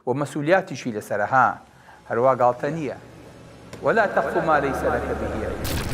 و مەسولیاتیشی لەسەرە ها هەروا گاڵتە نیە ولا تقف ما لیس لک به علم.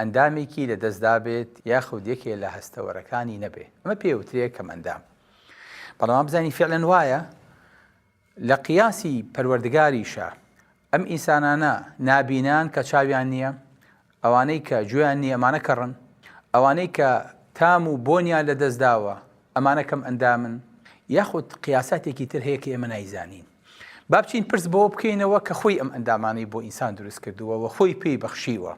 ئەندامێکی لە دەست دابێت یاخود یەکێ لە هەستەوەرەکانی نەبێ ئەمە پێوترێ کەم ئەندام بەڵام بزانی فعلەن وایە لە قیاسی پەروەردگاریشە ئەم ئینسانانە نابینان کە چاویان نییە ئەوانەی کە جویان نییە ئەمانە کەڕن ئەوانەی کە تام و بۆنیان لە دەستداوە ئەمانە کەم ئەندامن یاخود قیاساتێکی تر هەیە کە ئێمە نایزانین با بچین پرس بەوە بکەینەوە کە خۆی ئەم ئەندامانەی بۆ ئینسان دروست کردووە و خۆی پێی بەخشیوە،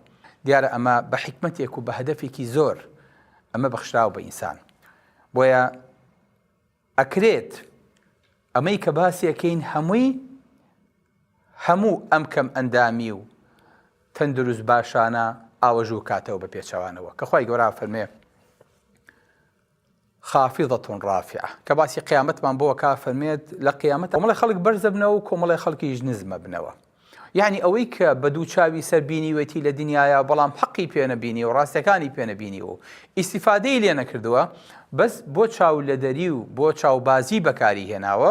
دیارە ئەمە بە حیکمەتێک و بە هەدەفێکی زۆر ئەمە بەخشراوە بە ئینسان. بۆیە ئەکرێت ئەمەی کە باسیەکەین هەمووی هەموو ئەم کەم ئەندامی و تەندروست باشانە ئاوەژوو کاتەوە بە پێچەوانەوە کە خی گەۆرا فەرمێ خافضە رافعە، کە باسی قیامەتمان بۆ ئەکا فەرمێت، لە قیامەت کۆمەڵێ خەڵک بەرز ئەبنەوە و کۆمەڵێ خەڵکیش نزم ئەبنەوە، یەعنی ئەوەی کە بە دوو چاوی سەر بینیوێتی لە دنیایا بەڵام حەقی پێ نەبینیوە و ڕاستیەکانی پێ نەبینیوە و ئیستیفادەی لێ نەکردووە بەس بۆ چاو لەدەری و بۆ چاوبازی بەکاری هێناوە،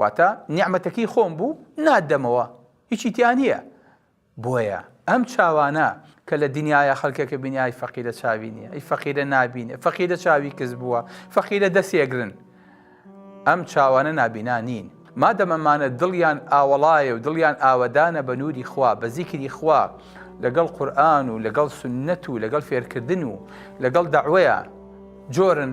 واتە نیعمەتەکەی خۆم بوو نادەمەوە هیچی تیا نییە بۆیە ئەم چاوانە کە لە دنیاە خەکەکە بینیای فەقیرە چاوی نیە ئەی فەقیرە نبینێ فەقیرە چاوی کەس بووە فەقیرە دەسێگرن ئەم چاوانە نابینا نین مادەمەمانە دڵیان ئاوەڵایە و دڵیان ئاوەدانە بە نووری خوا بە زیکری خوا لەگەڵ قورآن و لەگەڵ سنت و لەگەڵ فێرکردن و لەگەڵ داوەیە جۆرن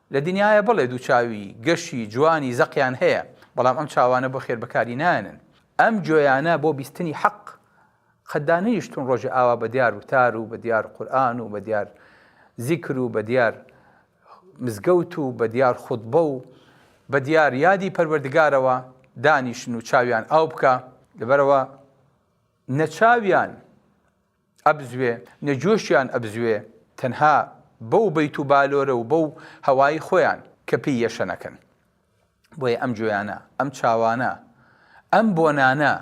لە دنیایە بەڵێ دوو چاوی گەشی جوانی زەقیان هەیە بەڵام ئەم چاوانە بۆ خێر بەکاری نایەنن ئەم گوێیانە بۆ بیستنی حەق قەت دانەنیشتون ڕۆژێ ئاوا بە دیار وتار و بە دیار قورئان و بە دیار زیکر و بە دیار مزگەوت و بە دیار خوتبە و بە دیار یادی پەروەردگارەوە دانیشن و چاویان ئاو بکا لەبەرەوە نە چاویان ئەبزوێ نە جۆشیان ئەبزوێ تەنها بەو بەیت و بالۆرە و بەو هەوای خۆیان کە پێی یەشەنەکەن بۆیە ئەم جۆیانە ئەم چاوانە ئەم بۆنانە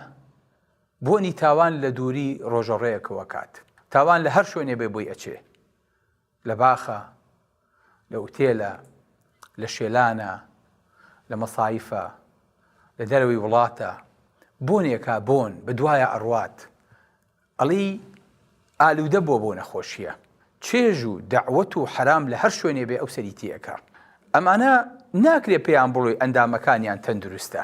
بۆنی تاوان لە دووری ڕۆژەڕێیەکەوە کات تاوان لە هەر شوێنێ بێ بۆی ئەچێ لە باخە، لە ئوتێلە، لە شێلانە، لە مەسایفە، لە دەرەوەی وڵاتە، بۆنێکا بۆن بە دوایە ئەڕوات، ئەڵی ئالوودە بووە بۆ نەخۆشییە، چێژ و دەعوەت و حەرام لە هەر شوێنێ بێ ئەو سەری تێ ئەکا. ئەمانە ناکرێ پێیان بڵێی ئەندامەکانیان تەندروستە.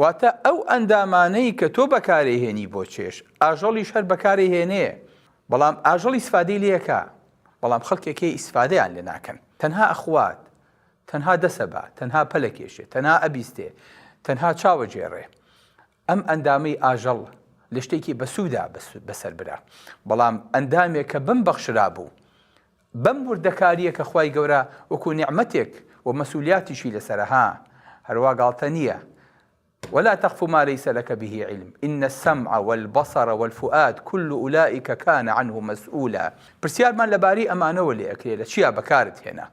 واتە ئەو ئەندامانەی کە تۆ بەکارەیهێنی بۆ چێژ، ئاژەڵیش هەر بەکارەیهێنێ، بەڵام ئاژەڵ ئیسفادەی لێکا، بەڵام خەڵکێک هەیە ئیسفادەیان لێ ناکەن، تەنها ئەخوات، تەنها دەسەبا، تەنها پەلەکێشێ، تەنها ئەبیستێ، تەنها چاوەجێڕێ. ئەم ئەندامەی ئاژەڵ لە شتێکی بەسوودا بەسەربرا، بەڵام ئەندامێک کە بمبەخشرابوو، بەم وردەکاریە کە خوای گەورە وەکو نیعمەتێک و مەسولیاتیشی لەسەرە ها هەروا گاڵتە نیە ولا تقف ما ليس لک به علم ان السمع والبصر والفؤاد کل اولئک کان عنه مسئولا پرسیارمان لەبارەی ئەمانەوە لێ ئەکرێ لە چیا بەکارت هێنا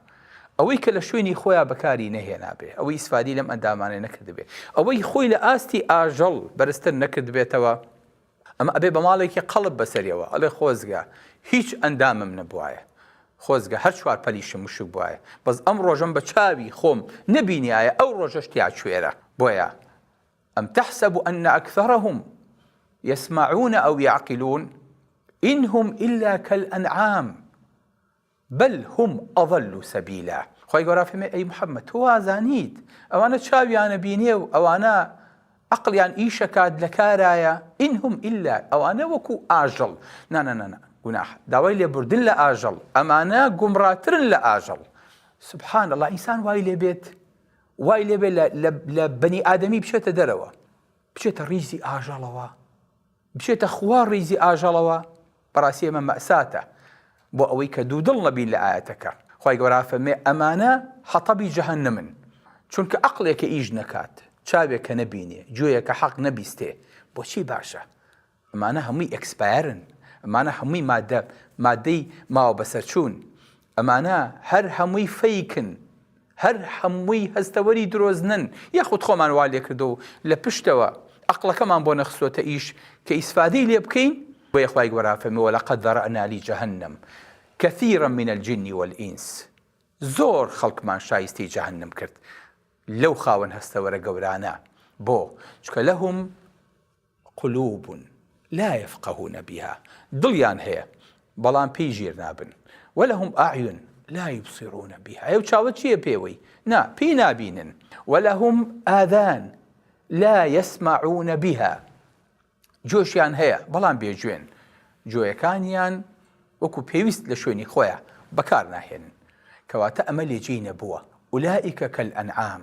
ئەوەی کە لە شوێنی خۆیا بەکاری نەهێنابێ ئەوەی ئیسفادی لەم ئەندامانەی نەکردبێ ئەوەی خۆی لە ئاستی ئاژەڵ بەرزتر نەکردبێتەوە ئەمە ئەبێ بە ماڵێکی قەڵب بەسەریەوە ئەڵێ خۆزگە هیچ ئەندامم نەبوایە، خۆزگە هەر چوار پەلیشم وشک بوایە، بەس ئەم ڕۆژەم بە چاوی خۆم نەبینیایە ئەو ڕۆژەش تیا کوێرە، بۆیە، ئەم تەحسەب ئەن ئەکثەرەهم یەسمەعون ئەو یەعقلون، ئین هم ئیلا کەلئەنعام، بل هم اضل سبیلا خوای گەورە فەرمێ ئەی محمد تۆ وازانیت ئەوانە چاویان ئەبینێ و ئەوانە عەقڵیان ئیش ئەکات لە کارایە ان هم الا ئەوانە وەکو ئاژەڵ نانەنەنا گوناح داوای لێبوردن لە ئاژەڵ ئەمانە گومڕاترن لە ئاژەڵ سبحان اللە ئینسان وای لێ بێت وای لێ بێت لە بەنی ئادەمی بچێتە دەرەوە بچێتە ڕیزی ئاژەڵەوە بچێتە خوا ڕیزی ئاژەڵەوە بەڕاستی ئەمە مەئساتە بۆ ئەوەی کە دوودڵ نەبین لە ئایەتەکە، خوای گەورە ئەفەرمێ، ئەمانە حەتەبی جەهەنەمن، چونکە عەقڵێک کە ئیش نەکات، چاوێک کە نەبینێ، گوێیەک کە حەق نەبیستێ، بۆچی باشە؟ ئەمانە هەمووی ئێکسپایەرن، ئەمانە هەمووی مادە مادەی ماوە بەسەرچوون، ئەمانە هەر هەمووی فەیکن، هەر هەمووی هەستەوەری درۆزنن، یاخود خۆمان وا لێکردووە و لە پشتەوە ئەقڵەکەمان بۆ نەخستۆتە ئیش کە ئیسفادەی لێ بکەین، بۆیە خوای گۆران فەرمووی ولقد ذرأنا لجهنم کثیرا من الجن والانس زۆر خەڵکمان شایستەی جەهەنم کرد لەو خاوەن هەستەوەرە گەورانە، بۆ؟ چونکە لهم. قلوب لا یفقهون بها دڵیان هەیە بەڵام پێی ژیر نابن ولهم اعین لا یبصرون بها ئەو چاوە چیە پێوەی نا پێی نابینن ولهم آذان لا یسمعون بها جۆشیان هەیە بەڵام بێ جوێن جۆیەکانیان وەکو پێویست لە شوێنی خۆیان بەکار ناهێنن کەواتە ئەمە لێجێی نەبووە ئولائیکە کەل ئەنعام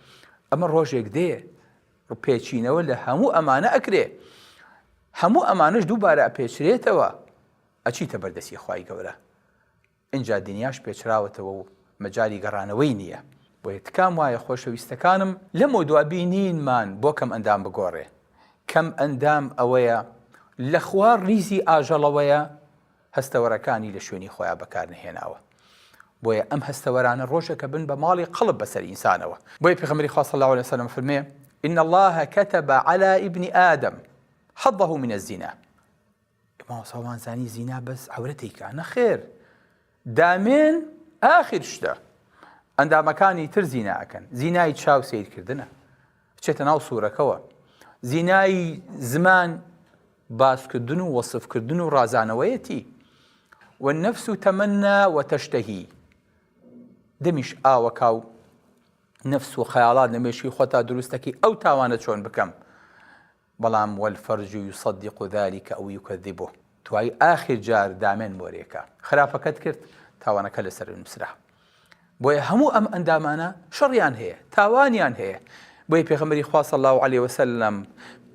ئەمە ڕۆژێک دێ پێچینەوە لە هەموو ئەمانە ئەکرێ هەموو ئەمانش دووبارە ئەپێچرێتەوە ئەچیتە بەردەسی خی گەورە اینجا دنیاش پێچراوەتەوە و مەجای گەڕانەوەی نییە بۆیە تکام وایە خۆشەویستەکانم لەم و دوابینینمان بۆ کەم ئەندام بگۆڕێ کەم ئەندام ئەوەیە لە خوار ریزی ئاژەڵەوەیە هەستەوەرەکانی لە شوێنی خۆیان بەکار نەهێناوە بۆیە ئەم هەستەوەرانە ڕۆژێکە بن بە ماڵی قڵپ بەسەر ئینسانەوە بۆیە پێغەمبەری خوا صلی اللە علیە وسلم فەرمێ ان الله كتب على ابن آدم حظه من الزنا ئێمە ساڵمان زانی زینا بەس عورەتێکە نەخێر دامێن ئاخر شتە ئەندامەکانی تر زینا ئەکەن زینای چاو سیرکردنە بچێتە ناو سوورەکەوە زینای زمان باسکردن و وەسفکردن و ڕازانەوەیەتی و نەفس و تەمەنا و تەشتەهی دەمیش ئاوەکا و نەفس و خەیاڵات لە مێشکی خۆتا دروستەکەی ئەو تاوانە چۆن بکەم بەڵام والفرج یصدق ذلک او یکذبه توای ئاخیر جار دامێن مۆرێکە خراپەکەت کرد تاوانەکە لەسەرت نوسرا بۆیە هەموو ئەم ئەندامانە شەڕیان هەیە تاوانیان هەیە بۆیە پێغەمبەری خوا صلی الله علیه وسلم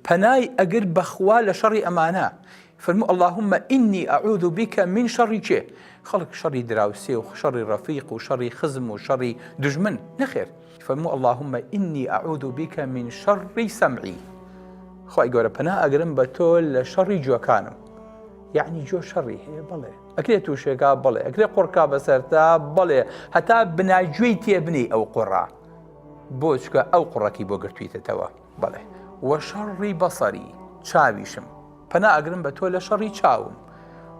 پەنای ئەگر بەخوا لە شەڕی ئەمانە فرمو اللهم ئینی ئەعوذ بکە من شەڕی چێ خەڵک شەڕی دراوسێ و شەڕی ڕەفیق و شەڕی خزم و شەڕی دژمن نەخێر فەرموو اللهم انی اعوذ بک من شر سمعی خوای گەورە پەنا ئەگرم بە تۆ لە شەڕی جوەکانم یعنی جۆ شەڕی هەیە بڵێ ئەکرێ تووشێکا بڵێ ئەکرێ قڕکا بەسەرتا بڵێ هەتا بناگوێی تێبنی ئەو قڕا بۆچکە ئەو قڕەکی بۆ گرتویتەتەوە بڵێ وە شەڕی بەسەری چاویشم پەنا ئەگرم بە تۆ لە شەڕی چاوم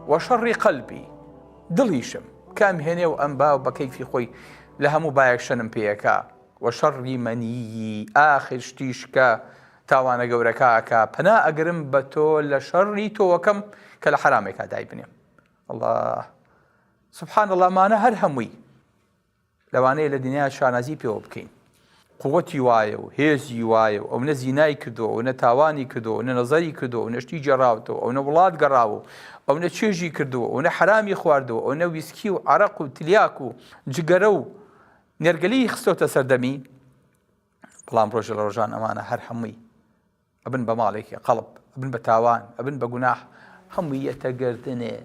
وە شەڕی قەلبی دڵیشم کام هێنێ و ئەم باو بە کەیفی خۆی لە هەموو بایەک شەنم پێیەکا و شەڕی مەنیی ئاخر شتیش کە تاوانە گەورەکە ئەکا پەنا ئەگرم بە تۆ لە شەڕی تۆوەکەم کە لە حەرامێکا دایبنێم اللە سبحان اللە ئەمانە هەر هەمووی لەوانەیە لە دنیا شانازی پێوە بکەین قوتی وایە و هێزی وایە و ئەو نە زینای کردو ئەو نە تاوانی کردو نە نەزەری کردو ئەو نەشتی جێراوتەوە ئەو نە وڵات گەڕاوە و ئەو نە چێژی کردو ئەو نە حرامی خواردەوە ئەو نە ویسکی و عرق و تلیاک و جگەرە و نێرگەلی خستۆتە سەردەمی بەڵام ڕۆژە لە ڕۆژان ئەمانە هەر هەمووی ئەبن بە ماڵێکی قەڵب ئەبن بە تاوان ئەبن بە گوناح هەمووی یەتە گردنێ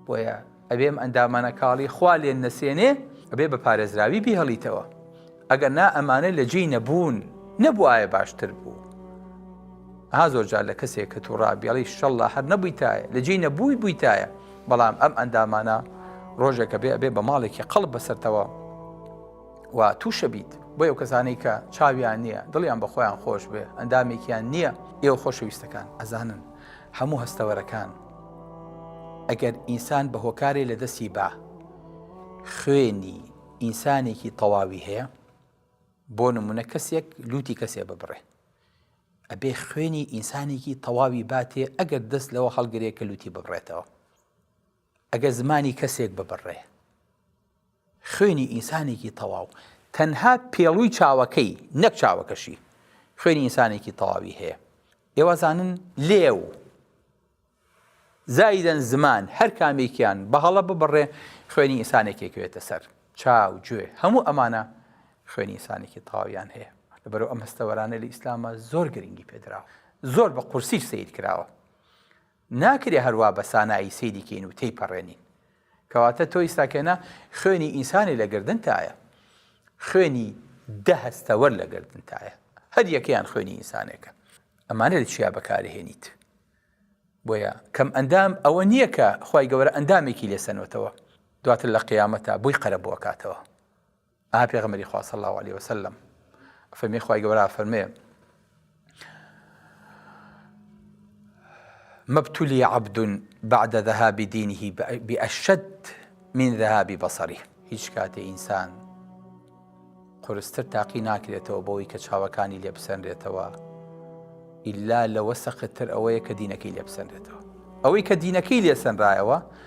بۆیە ئەبێم ئەندامانە کاڵی خوا لێن نەسێنێ ئەبێ بە پارێزراوی بیهڵیتەوە ئەگەر نا ئەمانە لە جێی نەبوون نەبووایە باشتر بوو ها زۆر جار لە کەسێک کە تووڕا بێڵی شەڵە هەر نەبوویتایە لە جێی نەبووی بوویتایە بەڵام ئەم ئەندامانە ڕۆژێکە بێ ئەبێ بە ماڵێکی قەڵب بەسەرتەوە و تووشە بیت بۆ ئەو کەسانەی کە چاویان نییە دڵیان بە خۆیان خۆش بێ ئەندامێکیان نییە ئێوە خۆشەویستەکان ئەزانن هەموو هەستەوەرەکان ئەگەر ئینسان بە هۆکارێ لە دەستی با خوێنی ئینسانێکی تەواوی هەیە بۆ نمونە کەسێک لوتی کەسێ ببڕێ ئەبێ خوێنی ئینسانێکی تەواوی باتێ ئەگەر دەست لەوە هەڵگرێ کە لوتی ببڕێتەوە ئەگەر زمانی کەسێک ببڕێ خوێنی ئینسانێکی تەواو تەنها پێڵووی چاوەکەی نەک چاوەکەشی خوێنی ئینسانێکی تەواوی هەیە ئێوەزانن لێو زایدەن زمان هەر کامێکیان بەهەڵە ببڕێ خوێنی ئینسانێکێکوێتە سەر چاو گوێ هەموو ئەمانە خوێنی ئینسانێکی تەواویان هەیە لەبەرو ئەم هەستەوەرانە لە ئیسلامە زۆر گرنگی پێدراوە زۆر بە قورسیش سیر کراوە ناکرێ هەر وا بە سانایی سەیری کەین و تێیپەڕێنین. کەواتە تۆ ئیستا کێنە خوێنی ئینسانێ لە گەردنتایە. خوێنی دە هەستەوەر لە گەردنتایە. هەر یەکەیان خوێنی ئینسانێکە. ئەمانە لە چیا بەکارئەهێنیت؟ بۆیە کەم ئەندام ئەوە نییە کە خوای گەورە ئەندامێکی لێ سەنۆتەوە دواتر لە قیامەتا بۆی قەرەبوو ئەکاتەوە. ئاها پێغەمبەری خوا صلی اللە علیە وسلم فەرمی خوای گەورە فەرمێ مبتلی عبد بعد ذهاب دینه بأشد من ذهاب بصره هیچ کاتێ ئینسان قرستر تاقی ناکرێتەوە بۆی کە چاوەکانی لێبسەنرێتەوە ئللا لەوە سەختتر ئەوەیە کە دینەکەی لێبسەنرێتەوە ئەوەی کە دینەکەی لێسەنرایەوە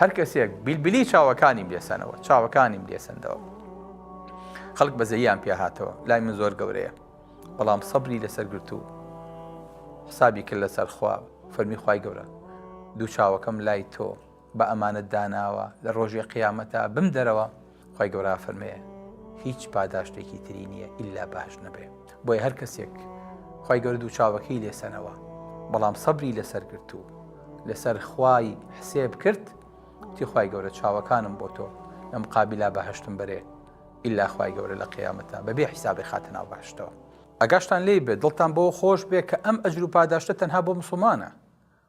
هەر کەسێک بیلبلی چاوەکانیم لێسەنەوە چاوەکانیم لێسەندەوە خەڵک بەزەیان پێ هاتەوە لای من زۆر گەورەیە بەڵام سەبری لەسەر گرت و حسابی کرد لەسەر خوا فەرمی خی گەورە دوو چاوەکەم لای تۆ بە ئەمانەت داناوە لە ڕۆژی قیامەتە بم دەرەوە خوای گەورە ئەفەرمێ هیچ پاداشتێکی تری نییە ئللا باش نەبێ بۆیە هەر کەسێک خی گەورە دوو چاوەکەی لێسەنەوە بەڵام سەبری لەسەر گرت و لەسەر خوای حسێب کرد تیخوای گەورە چاوەکانم بۆ تۆ لەم قابلا بەهشتم بەرێ ئللا خی گەورە لە قیامەتە بەبێ حیسابی خاتە ناو باشتەوە ئەگاشتان لی بێت دڵتان بۆ خۆش بێ کە ئەم ئەجر و پاداشتە تەنها بۆ مسلمانە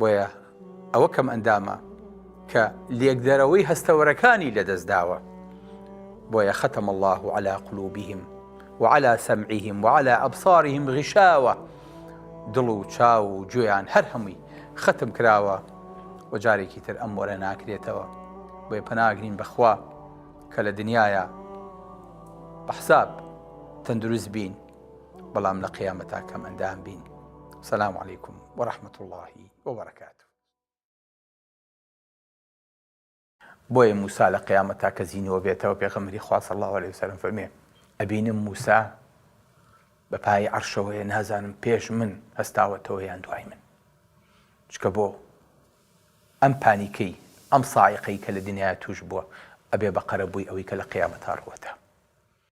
بۆیە ئەوە کەمئەندامە کە لێکدەرەوەی هەستەوەرەکانی لەدەست داوە بۆیە خەتەم الله و علا قلوبیهم وعلى سمعهم وعلى ئەبصارهم غشاوە دڵ و چاو و گوێیان هەر هەمووی ختم کراوە و جارێکی تر ئەم وەرە ناکرێتەوە بۆی پەناگرین بەخوا کە لە دنیاە بەحساب تەندروست بین بەڵام لە قیامەتا کەم ئەندام بین سلام عیکم و رححمت اللهی وبرکات بۆیە موسا لە قیامە تاکە زیینەوە بێتەوە پێغەمەری خواص الله عليه وسلم فەرمێ ئەبینم موسا بە پای عرشەوەی نازانم پێش من هەستاوەتەوە یان دوای من چکە بۆ ئەم پانیکەی ئەم ساعقەی کە لە دنیا توش بووە ئەبێ بە قەرەبووی ئەوەی کە لە قیامە تاڕوەتە